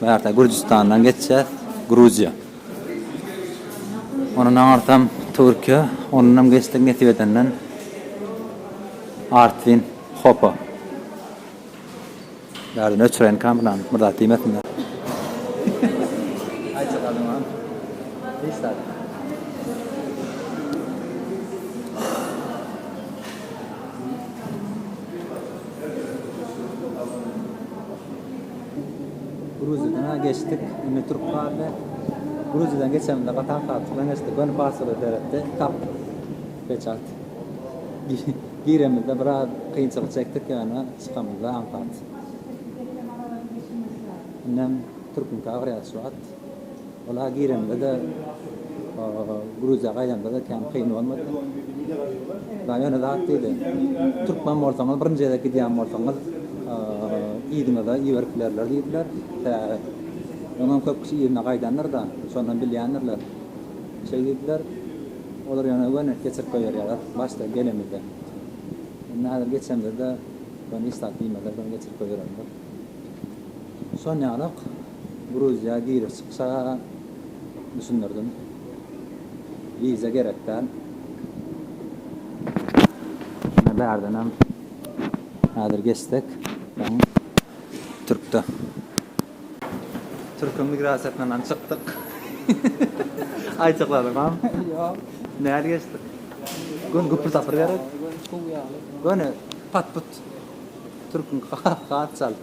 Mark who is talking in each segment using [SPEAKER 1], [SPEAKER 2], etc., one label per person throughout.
[SPEAKER 1] Bu ýerde Gürjüstandan geçýäs, Gruziýa. Ondan aňyrsam Türkiýe, ondanam geçdik nesip edenden Artvin, Hopa. Bärden öçüreýinkäm bulan bir zat diýmesinler. Gruziýadan geçdik. Indi Türk galdy. Gruziýadan geçemizde Katar Saatçydan geçdik. Ony pasporta seretdi. Tapdyk. Peçat. Giremizde biraz kynçylyk çekdik ýöne çykamyzda aňsat. Indem Türküňka agyrýar şu wagt. Ola giremde-de, Gruziýa gaýdamda-da kän kyn bolmady. Daýy ýöne zat diýdi, Türkmen bolsaňyz, birinji gezek gidýän bolsaňyz, yzyňyza iberip bilerler diýdiler. Sebäbi öňem köp kişi yzyna gaýdandyr-da, şondan bilýändirler. Şeý diýdiler. Olar ýöne göni geçirip goýberýärler, başda gelemizde. Indi häzir geçemizde-de, göni hiç zat diýmezler, göni geçirip goýbererler. Şonýalak. Gruziýa girip çykşa düşündirdim. Wiza gerek däl. Şuna bärdenem häzir geçsek. Soň türkde. Türkiň migrasiýasyndanam çykdyk. Aýçykladymam. Ýok. Nädip geçdik? Göni güpür tapyr gerek. Göni pat-put. Türkiň hat çalt.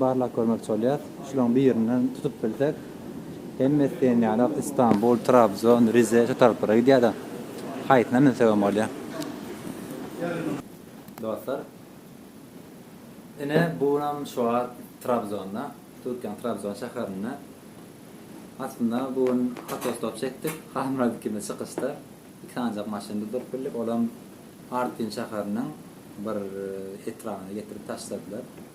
[SPEAKER 1] barlap görmekçi bolýas. Şularyň birini tutup bilsek, hemmesi diýen ýaly Istanbul, Trabzon, Rize şu taraplara gidýär-de. Haýsyna münsegem bolýar. Dostlar, ine, bu günam şu wagt Trabzonda, Türkiýäniň Trabzon şäherinde. Aslynda bu gün otostop çekdik, Halmyrat ikimiz çykyşda iki sanjak maşyny duzup bildik, olam Artvin şäheriniň bir etrabyna getirip taşladylar.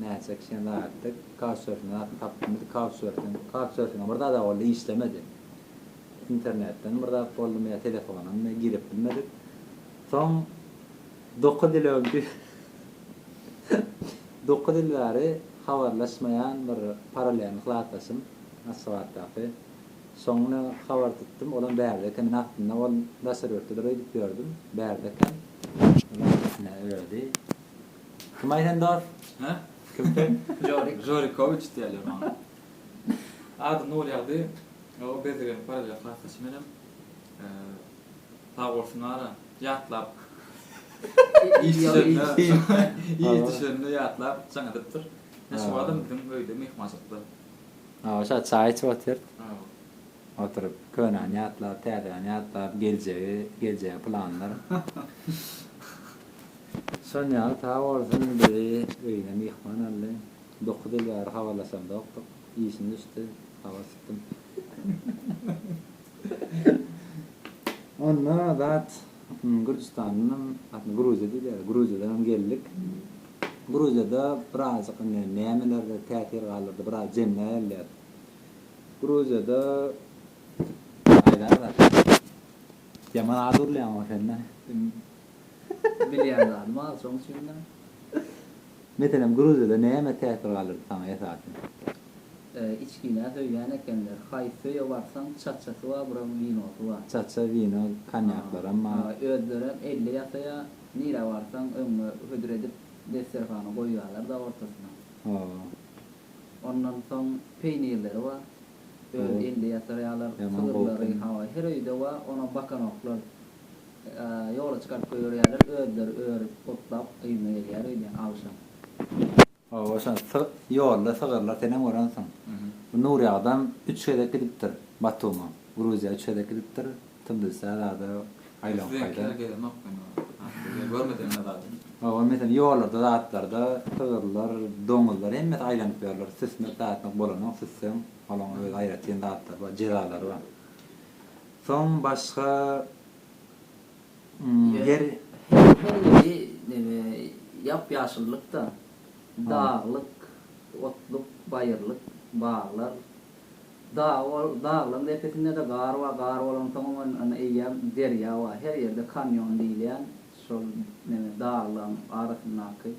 [SPEAKER 1] Näçe kişäni aýatdyk. Kawçersinden atyp tapdym. Kawçersin. Kawçersin bir zada boldy, işlemedi. Internetden bir zat boldumy ýa telefonamy girip bilmedik. Soň dokuz ýyl öňki dokuz ýyl bäri habarlaşmaýan bir paralelni klasdaşym, Aşgabatdaky. Şoňa habar tutdum. Olam bärde eken. Men aslynda ol daşary ýurtdadyr öýdüp ýördüm. Bärde eken. Ol atasy ödi. Kim aýdan dos? Hä? Kim sen? Žorik. Žorikowiç diýerler maňa. Ady Nurýagdy. O bezirgeniň paralel klasdaşy menem. Sag bolsun ara ýatlap. Iş düşende, iş düşende ýatlap jaň edipdir. Ine şu wagtam biziň öýde myhmançylykda. Hawa şa çaý içip otyr. Hawa. Oturyp könäni ýatlap, täzäni ýatlap, geljegi, geljege planlar. Sonýaly sag bolsun bizi öýüne myhman aldy. Dokuz ýyl bäri habarlaşamzokdyk. Işim düşdi. Habar tutdum. Onda zat Gürjüstandanam, aslynda Gruziýa diýilýär, Gruziýadanam geldik. Gruziýada birazajyk indi nämelerde täsir galdyrdy, biraz jemläp alýas. Gruziýada aýdarys, ýaman az gürleýäňok sen-dä. Bilýän zadym az şoň üçinem. Meselem Gruziýada näme täsir galdyrdy saňa esasan? Içginä söýýän ekenler. Haýsy öýe barsaň çaçasy bar bura winosy bar. Çaça, wino, konýaklaram bar. Özlerem elle ýasaýar. Nirä barsaň öňüňe hödür edip desterhana goýýarlar-da ortasyna. Ondan soň peýnirleri bar. Öz elle ýasarýarlar. Sygyrlary hawa her öýde bar. Ona bakanoklar. Ýola çykaryp goýberýärler, özleri örüp, otlap, yzyna gelýär öýdýän agşam. Hawa, şa sy, ýolda sygyrlar, senem görensiň. Bu Nurýagdam üç gezek gidipdir Batuma, Gruziýa üç gezek gidipdir, Tblisä zada aýlanyp gaýda. Siziňki ýaly gezemok men ony. Görmedimem men zady. Hawa, meselem, ýollarda, zatlarda sygyrlar, doňuzlar hemmesi aýlanyp ýörler. Süsmek, zatmak bolanok, süsseň, olaň öz aýratyn zatlary bar, jezalary bar. Soň başga. Ýer hemmeleri neme ýap-ýaşyllyk-da. Daglyk, otluk, baýyrlyk, baglar. Daglaryň depesinde-de gar bar, gar bolansoňam ony eýýäm derýa bar. Her ýerde kanýon diýilýän şol neme daglaryň arasyndaky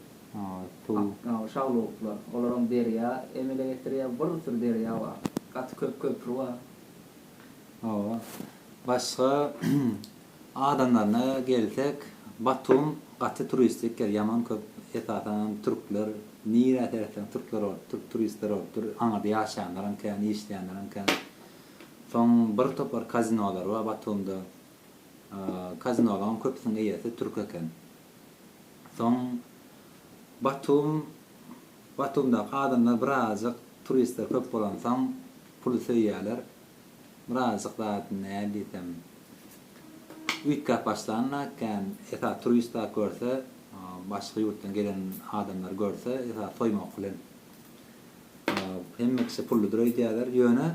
[SPEAKER 1] şaglawuklar. Olaram derýa emele getirýär. Bir sürü derýa bar. Gaty köp köpri bar. Hawa. Başga adamlaryna gelsek, Batum gaty turistik ýer, ýaman köp esasanam türkler, nirä seretseň türkler bolup dur, turistler bolup dur, aňyrda ýaşaýanlaram kän, işleýänlerem kän. Soň bir topar kazinolary bar Batumda. Kazinolaryň köpüsiniň eýesi türk eken. Soň Batum, Batumdaky adamlar birazajyk turistler köp bolansoň Puly söýýäler. Birazjyk zady näl diýsem, üýtgäp başlanla kän esasy turistler görse, başga ýurtdan gelen adamlar görse esasy soýmak bilen. Hemme kişi pulludyr öýdýäler. Ýöne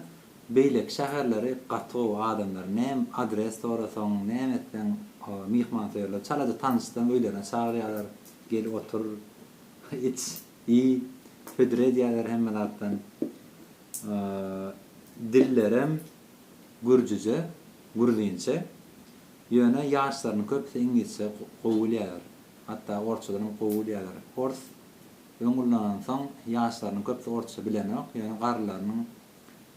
[SPEAKER 1] beýleki şäherleri gaty gowy adamlar. Näme adres sorasaň, näme etseň myhmansöýerler. Çalaja tanyşsaň öýlerine çagyrýarlar. Gel otur, iç, iý, hödür edýärler hemme zatdan. dillerem gürjüje, gruzynça, ýöne ýaşlarynyň köpüsi iňlisçe gowy bilýärler, hatda orsçadan hem gowy bilýärler. Ors öň ullanansoň, ýaşlarynyň köpüsi orsça bilenok, ýöne garrylarynyň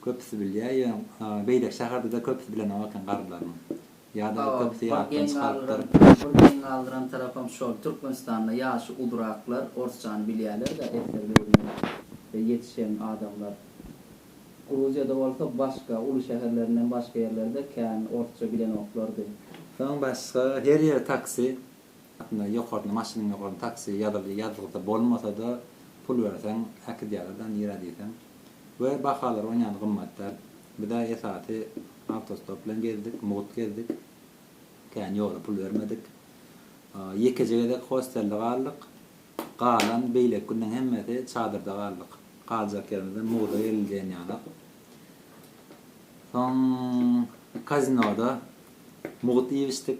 [SPEAKER 1] köpüsi bilýär, ýöne beýleki şäherde-de köpüsi bilenok eken garrylarynyň. Ýa-da aýtsak syýasatdan çykarypdyr. Bir geň galdyran tarapam şol. Türkmenistanda ýaşy uzraklar orsçany bilýärler-dä esger döwründen we ýetişen adamlar. Gruziýada bolsa başga, uly şäherlerinden başga ýerlerde kän orsça bilenoklardy. Soň başga her ýere taksi, aslynda ýokaryna maşynyň ýokaryna taksi ýazyldy, ýazylsa bolmasa-da pul berseň äkidýärler-dä nirä diýseň. We bahalar onýany gymmat däl. Bize esasy Awtostop bilen gezdik, mugt gezdik. Kän ýola pul bermedik. Ýekeje gezek hostelde galdyk. Galan beýleki günleň hemmesi çadyrda galdyk. Galjak ýerimizden mugda geriljeýin ýaly. Soň kazinoda mugt iýip-içdik.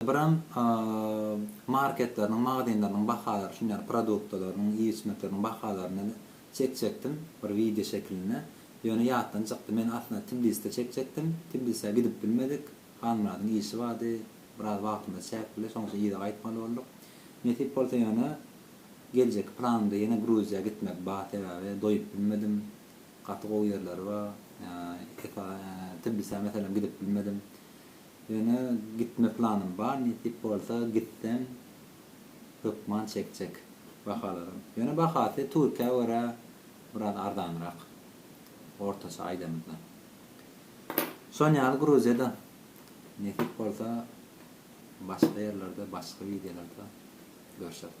[SPEAKER 1] Brend marketleriniň, magazynlarynyň bahalary üçin, ýagny produktalarynyň, iýip-içmekleriniň bahalaryny çek çekdim, bir wideo şekilinde. Ýöne ýatdan çykdy. Men aslynda Tbiliside çekjekdim. Tbilisä gidip bilmedik. Halmyradyň işi bardy. Biraz wagtymyz çäkli, şonuň üçin yza gaýtmaly bolduk. Nesip bolsa ýöne geljekki planymda ýene Gruziýa gitmek bar, sebäbi doýup bilmedim. Gaty gowy ýerleri bar. Tbilisä meselem gidip bilmedim. Ýöne gitme planym bar nesip bolsa gitsem hökman çekjek bahalaram. Ýöne bahasy türkiýä görä biraz arzanrak ortaça aýdamyzda. Şon ýaly gruziýada nesip bolsa başga ýerlerde başga wideolarda görşeris.